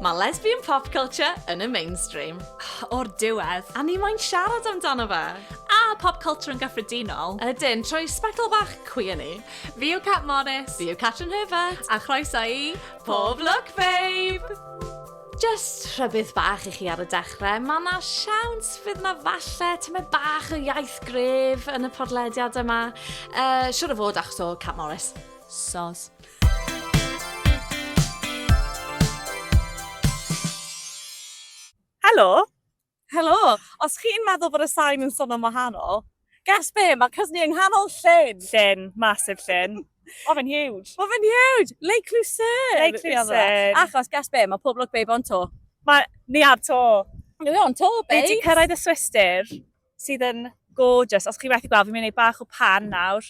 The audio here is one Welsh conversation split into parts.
Mae lesbian pop culture yn y mainstream. O'r diwedd, a ni moyn siarad amdano fe. A pop culture yn gyffredinol. Ydyn, trwy sbectol bach queer ni. Fi yw Cat Morris. Fi yw Catrin Herbert. A chroeso i Pob Look Babe! Jyst rhybudd bach i chi ar y dechrau, mae yna siawns fydd yna falle tymed bach o iaith gref yn y podlediad yma. Uh, siwr o fod achos o Cat Morris. Sos. Helo! Helo! Os chi'n meddwl bod y sain yn swnio'n wahanol, guess be, mae cysni yng nghanol llyn! Llyn, massive llyn. Mae fe'n huge. Mae fe'n huge! Lake Lucerne! Lake Lucerne. Achos, guess be, mae pob lwc babe o'n to. Mae ni ar to. Ni o'n to, babes. Ni wedi cyrraedd y Swistir, sydd yn gorgeous. Os chi methu gweld, fi'n mynd i wneud bach o pan nawr.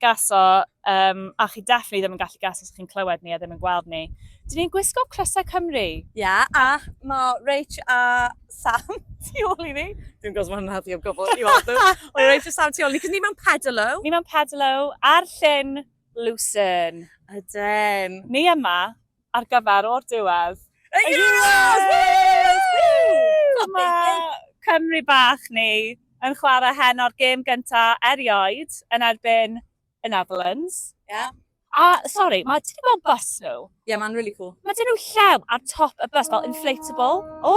gaso, um, a chi definitely ddim yn gallu gaso os chi'n clywed ni a ddim yn gweld ni. Dyn ni'n gwisgo crysau Cymru. Ie, yeah, a mae Rach a Sam tu ôl i ni. Dwi'n gwybod mae'n naddi o gofod i weld nhw. Mae Rach a Sam tu ôl i ni, cos ni mewn pedalo. Ni mewn pedalo ar llyn Lucerne. Ydyn. Ni yma, ar gyfer o'r diwedd. Y Euros! Woo! Mae Cymru bach ni yn chwarae heno'r gêm gyntaf erioed yn erbyn y Netherlands. Yeah. A, sori, mae ti wedi gweld bus nhw? Yeah, mae'n really cool. Mae dyn nhw llew ar top y bus, fel inflatable. O!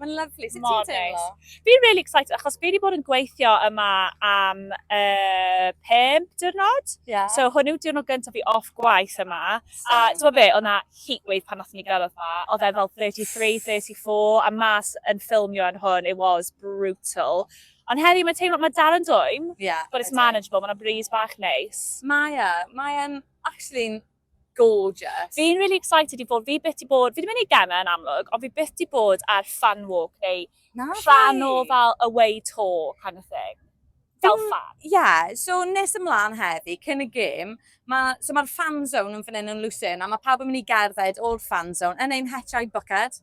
Mae'n lyflu, sut ti'n teimlo? Fi'n really excited, achos fi wedi bod yn gweithio yma am uh, pum diwrnod. Yeah. So hwn yw diwrnod gyntaf fi off gwaith yma. A ti'n be, o'na heat wave pan nath ni gyrraedd yma. Oedd e fel 33, 34, a mas yn ffilmio yn hwn, it was brutal. Ond heddi mae teimlo, mae dal yn dwy'n, yeah, but it's manageable, mae'n breeze bach neis. Mae e, mae'n actually gorgeous. Fi'n really excited i fod, fi byth di bod, fi di mynd i gema yn amlwg, ond fi byth di bod ar fan walk neu Na, rhan o fel away tour kind of thing. Fel fan. Ie, yeah, so nes ymlaen heddi, cyn y gêm, ma, so mae'r fan zone yn fan hyn yn Lucerne, a mae pawb yn mynd i gerdded o'r fan zone yn ein hetiau bwced.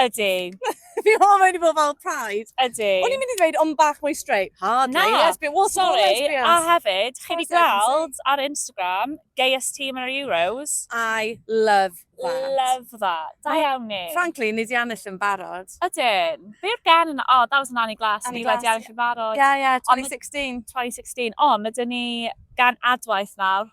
Ydy. Fi hoffa mynd i bod fel Pride. Ydy. O'n i'n mynd i ddweud ond bach mwy straight. Hardly. Na, lesbian. Well, sorry. Lesbians. A hefyd, chi wedi gweld ar Instagram, gayest team yn yr Euros. I love that. Love that. Da iawn ni. Frankly, ni di annill yn barod. Ydyn. Be yw'r gen yn... Oh, that was an Annie Glass. Annie Glass. Ni wedi annill yn barod. Yeah, yeah, 2016. 2016. Ond, ydyn ni gan adwaith nawr.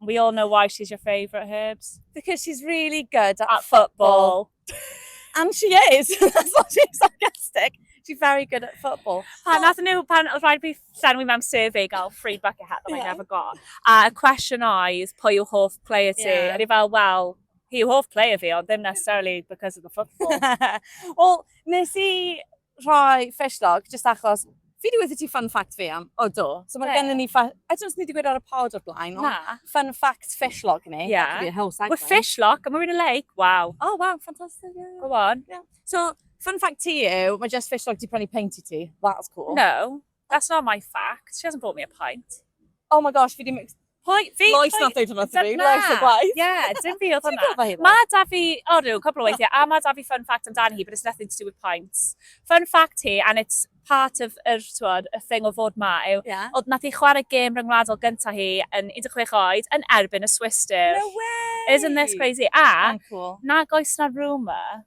We all know why she's your favourite herbs. Because she's really good at, at football. football. and she is. That's not being sarcastic. She's very good at football. Pan nath nhw, pan oedd rhaid fi llenwi mewn survey gael free bucket hat that yeah. I never got. A y cwestiwn oedd, pwy yw hoff player ti? Yeah. A i fel, well, hi yw hoff player fi, ond ddim necessarily because of the football. well, nes i rhoi fresh log, just achos fi wedi wedi ti fun fact fi am, o do. So mae yeah. gennym ni, I don't know os ni wedi gweud ar y pod o'r blaen, ond Na. fun fact fish log ni. Yeah. That could be a whole segment. Well, fish log, and we're in a lake, wow. Oh, wow, fantastic. Yeah. Go on. Yeah. So, fun fact ti yw, mae just fish log di prynu paint i ti. That's cool. No. That's not my fact, she hasn't bought me a pint. Oh my gosh, fi di... Pwy? Fi? Lois nath dweud hwnna to fi, Lois y gwaith. Ie, dim fi oedd hwnna. Mae da fi, o rhyw, cwbl o weithiau, a mae da fi fun fact amdani hi, but it's nothing to do with pints. Fun fact hi, and it's part of yr, twod, y thing o fod ma, yw, yeah. oedd nath i chwarae gêm rhyngwladol gyntaf hi yn 16 oed yn erbyn y Swiss Div. No way! Isn't this crazy? A, cool. nag oes na rumour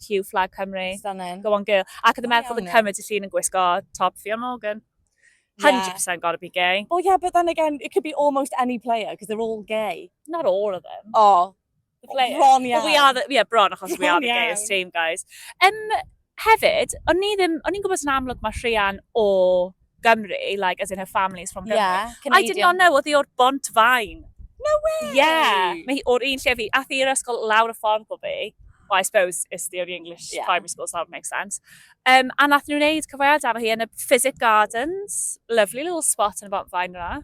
cue flag Cymru. Stunning. Go on girl. Ac oedd yn meddwl bod yn Cymru ti llun yn gwisgo top Ffion Morgan. 100% yeah. gotta be gay. Well, yeah, but then again, it could be almost any player, because they're all gay. Not all of them. Oh. The players. Bron iawn. Well, we are the, yeah, bron, achos we are the gayest team, guys. Um, hefyd, o'n i'n gwybod yn amlwg mae Rhian o Gymru, like, as in her family's from Gymru. Yeah, Canadian. I did not know, oedd hi o'r Bont Fain. No way! Yeah, mae hi o'r un lle fi, a thi i'r ysgol lawr y ffordd o fi. Well, I suppose it's the only English yeah. primary school, so that makes sense. Um, a nath nhw'n neud cyfweliad efo hi yn y Physic Gardens. Lovely little spot yn y Bont Fain yna.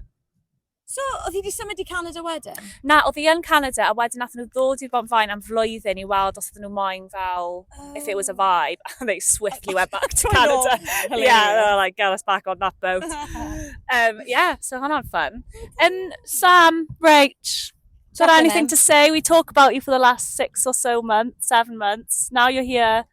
So, oedd hi wedi symud i Canada wedyn? Na, oedd hi yn Canada, a wedyn nath nhw ddod i'r Bont Faen am flwyddyn i weld os oedd nhw moyn fel, oh. if it was a oh. vibe, and they swiftly went back to Canada. yeah, they were like, get us back on that boat. um, yeah, so hwnna'n fun. Um, Sam, Rach, Is there anything to say? We talk about you for the last six or so months, seven months. Now you're here.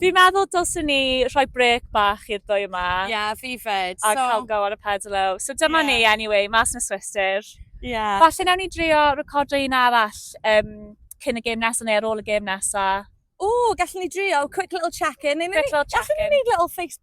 Fi'n meddwl dylswn ni rhoi brec bach i'r ddwy yma. Ie, yeah, fi fed. A so... cael go ar y pedalo. So dyma yeah. ni, anyway, mas yn y swister. Ie. Yeah. Falle nawn ni drio recordo un arall um, cyn y gêm nesaf neu ar ôl y gêm nesaf. O, gallwn ni drio quick little check-in. Quick little check-in. Gallwn ni wneud little face